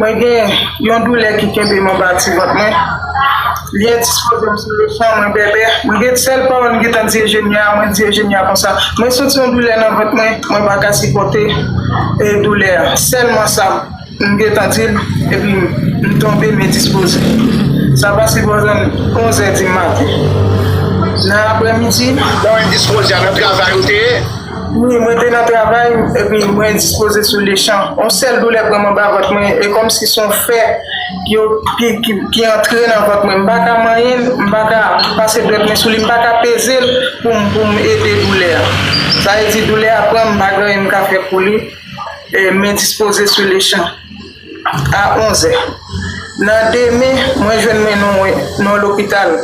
Mwen gen yon doulè ki kenbe m anba ti vant mwen. Li endispoze m sou le fon, mwen bèbè. Mwen gen sèl pawòl m gentan di Ejeni a, mwen di Ejeni a konsa, mwen santi yon doulè nan vant mwen, mwen pa ka sipòte doulè a. Sèlman sa m gentan di l epi m tonbe m endispoze. Sa pa sipoze n onzè di maten nan aprèmidi. Bon endispoze a nan travay ou te ye? Wi, mwen te nan travay, epi mwen endispoze sou lechan. Yon sèl doulè pran m anba vant mwen, e kòmsi s on fè ki antre nan vant mwen. M pa ka manyen l, m pa ka pase dwèt mwen sou li, m pa ka peze l pou m ede doulè a. Sa vle di doulè a pran m, m pa gen anyen m ka fè pou li, e m endispoze sou lechan. A 11 zè nan demen, mwen jwenn men nou mwen nan lopital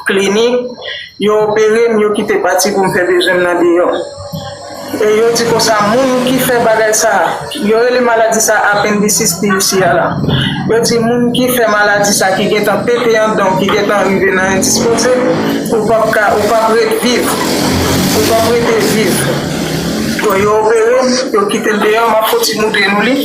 Klinik. Yo opere m, yo kite pati pou m fè bezwen m nan deyò. E yo di konsa moun ki fè bagay sa a, yo rele maladi sa a apendisis pi isi a la. Yo di moun ki fè maladi sa a, ki gentan pete andan w, ki gentan rive nan endispoze, ou p ap ka, ou p ap ret viv, ou p ap rete viv. Bon yo operem yo kitem deyò map kontinye ouvri nou li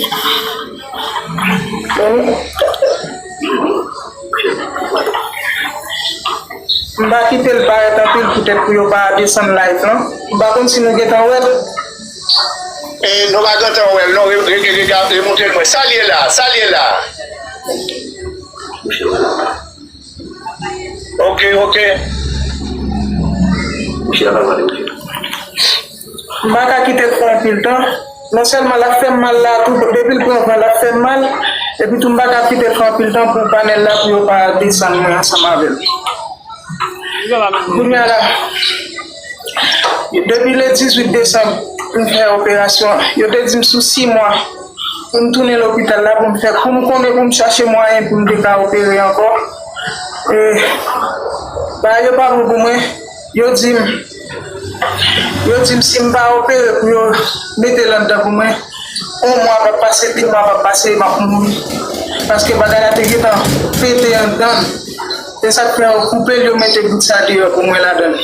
m pa kitel parèt anpil poutèt pou yo pa desann live lan m pa konn si nou gentan wèl. E nou pa gentan wèl non remoute l mwen sal ye la sal ye la. Ok, ok. Mouche a pa mande mouche. M pa ka kite l pou anpil tan. Non sèlman l ap fè m mal la tou, depi l pran van l ap fè m mal, epi tou m pa ka kite l pou anpil tan pou panèl la pou yo pa desann mwen ansanm avè l. Kounye a la. Depi le 18 desanm pou m fè operasyon an, yo te di m sou 6 mwa pou m tounen lopital la pou m fè kou m konnen pou m chache mwayen pou m te ka opere ankò. E bagay yo pa bon pou mwen, yo di m yo di m si m pa opere pou yo mete l anndan pou mwen, 1 mwa pa p pase, 2 mwa pa p pase e m ap mouri paske bagay la te gentan pete anndan m. Esak fè yo koupel yo mete bout sa deyò pou mwen ladanl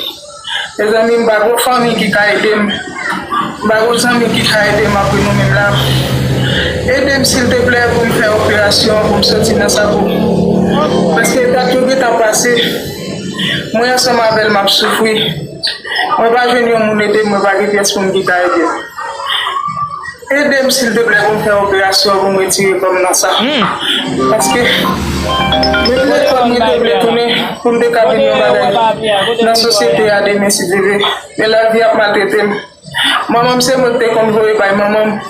mezanmi m pa gon fanmi ki ka edem m pa gon zanmi ki ka edem apre nou menm la edem silteplè poum fè operasyon an poum soti nan sa pou paske dat yo gentan pase mwen ansanm avèl map soufri mwen pa jwenn yon moun edem mwen pa gen pyès moun ki ka edem. Edem silteplè poum fè operasyon poum retire kòm nan sa paske mwen trè fèb mwen te vle tounen poum te ka vin yon bagay nan sosyete a demen si Dye vle men lavi ap maltretem manmanm se mwen te konn voye bay manmanm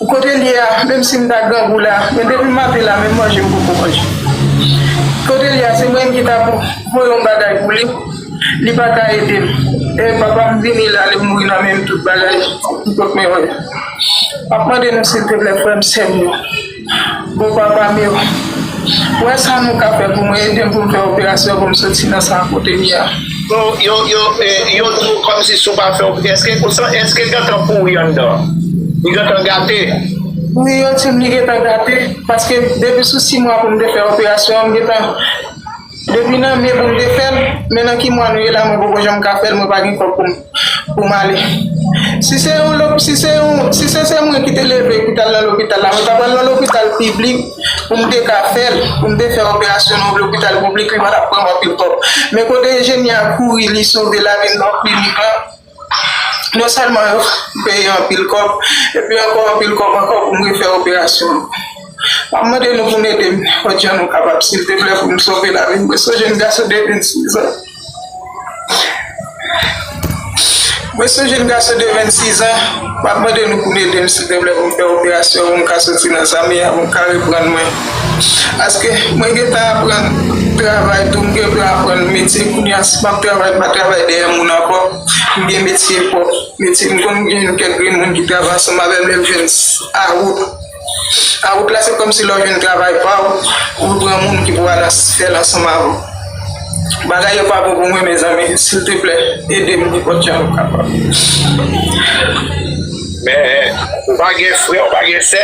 kotel ye a menm sim ta grangou la men depim maten la menm manje mpoko manje kotel ye a se mwen menm ki ta voye yon bagay pou li. Li pa ka ede m. E papa m vini la li mouri nan menm tout bagay m pot mwen wè. Map mande nou silteplè frè m sè m yo bon papa m yo wè sa nou ka fè pou mwen ede m pou m fè operasyon pou m soti nan sa kote m ye a. Yo yo yo di w kòmsi si w pa fè op èske ou san èske gentan pouri anndan an? Li gentan gate? Wi yo di m li gentan gate paske depi sou 6 mwa pou m te fè operasyon an m gentan Depi nan me poum te fèl, men nan ki mwa nou ye la mwen poko janm ka fèl mwen pa gen kòb poum ale. Si se yon lop si se yon si se se mwen ki te leve ki tal nan lopital la mwen ta pral nan lopital piblik poum te ka fèl poum te fè operasyon nan yon lopital piblik li pa tap pranm anpil kòb men kote Eugenia kouri li sove lavil nan klinik lan. Non sèlman yo peye anpil kòb, epi ankò anpil kòb ankò pou m refè operasyon an. M ap mande nou pou n ede m ojan nou kapab silvouplè pou m sove lavi m. Mwen son jenn gason de 26 an, mwen son jenn gason de 26 an, m ap mande nou pou n ede m silvouplè pou m fè operasyon pou m ka soti nan zam, pou m ka reprann mwen. Paske mwen gentan aprann travay tou, m gentan aprann metye kounye a si m ap travay m pa travay dèyè moun ankò, m gen metye pwòp, metye m konn gen yon kèk grenn moun ki travay ansanm avè m lè m jwenn awout, awout la se kòmsi lè w jwenn travay pa w, ou pran moun ki pou al fè l ansanm avè w. Bagay yo pa bon pou mwen mezanmi silteplè ede m nenpòt jan nou kapab. Men ou pa gen frè ou pa gen sè?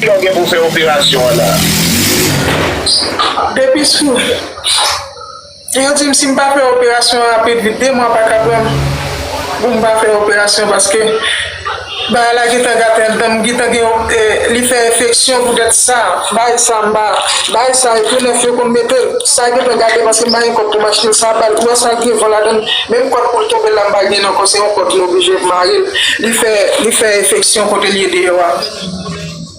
Kilè w gen pou fè operasyon an la? Depi sou Yo di m si m pa fè operasyon an rapid vit 2 mwa pa ka pran m pou m pa fè operasyon paske. Bagay la gentan gate danm gentan gen yon li fè enfeksyon poutèt sa bagay sa m pa bay sa epi 9 yo konn metel sa gentan gate paske m pa gen kòb pou m achte sa bal ou wè sa gen van ladann menm kòd poul tonbe la m pa gen ankò se yon kòd m oblije marel li fè li fè enfeksyon kote l ye deyò a.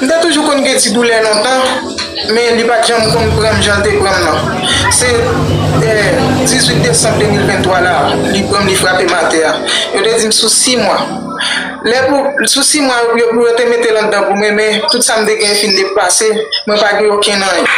M te toujou konn gen ti doulè lontan men li pat janm konn pran m jan l te pran m nan. Se 18 desanm 2023 la li pran m li frape m atè a. Yo te di m sou 6 mwa. Lè pou sou 6 mwa yo pou yo te mete l anndan pou mwen men tout sa m te gen fin depase mwen pa gen okenn anyen.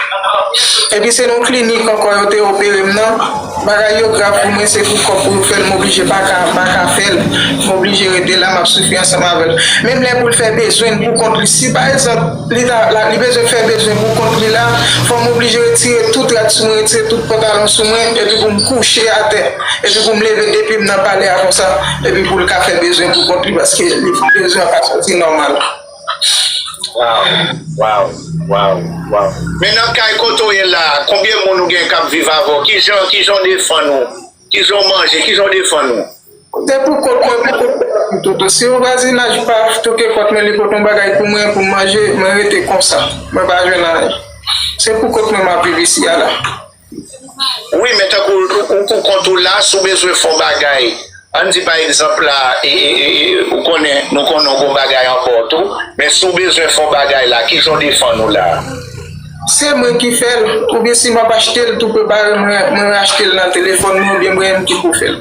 Epi se nan yon klinik ankò yo te opere m nan. Bagay yo grav pou mwen se pou kòb pou yo fèl m oblije paka paka fèl m oblije rete la map soufri ansanm avèl menm lè poul fè bezwenl pou kont li si pa egzanp li ta la li bezwen fè bezwen pou kont li la fòm oblije retire tout rad sou mwen retire tout pantalon sou mwen epi poum kouche atè epi poum leve depim nan palè a konsa epi poul ka fè bezwen pou kont li paske li bezwen an pa soti nòmal. Waw waw waw men nan kay kote ou ye la konbyen moun ou gen kap viv avèw kijan kijan ou defann ou kijan ou manje kijan ou defann ou. Se pou kòt mwen pou kòt pa pou toto si yon vwazinaj pa toke kòt mwen li pot yon bagay pou mwen pou m manje mwen rete konsa mwen pa jwenn anyen se pou kòt mwen map viv isi a la. Wi men tankou ou pou kont ou la si w bezwen fè w bagay ann di pa egzanp la ou konnen nou konnen w gon bagay an ba w tou men si w bezwen fè w bagay la kijan w defann ou la. Se mwen ki fè l oubyen si m ap achte l tou pe bare mwen achte l nan telefòn mwen oubyen mwen menm ki pou fè l.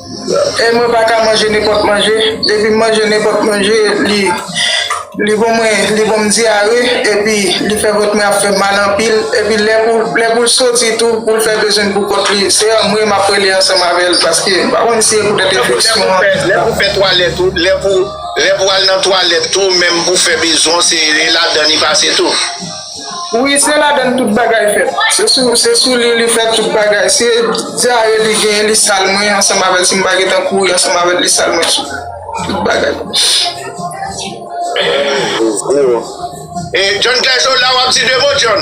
E mwen pa ka manje nenpòt manje, depi m manje nenpòt manje li bon mwen li bon m dyare epi li fè vant mwen ap fè m mal anpil epi lè pou l soti tou pou l fè bezwen l pou kont li se anmwe m ap rele ansanm avè l paske m pa konn si se poutèt enfeksyon an ki fè sa. Lè pou al nan twalèt tou menm pou fè bezwen w se ladan li pase tou. Wi se ladann tout bagay fèt. Se sou li li fèt tout bagay. Se dyare li genyen li sal mwen ansanm avèl si m pa gentan kouri ansanm avèl li sal mwen tou. Tout bagay. John K so la wap di 2 mo John.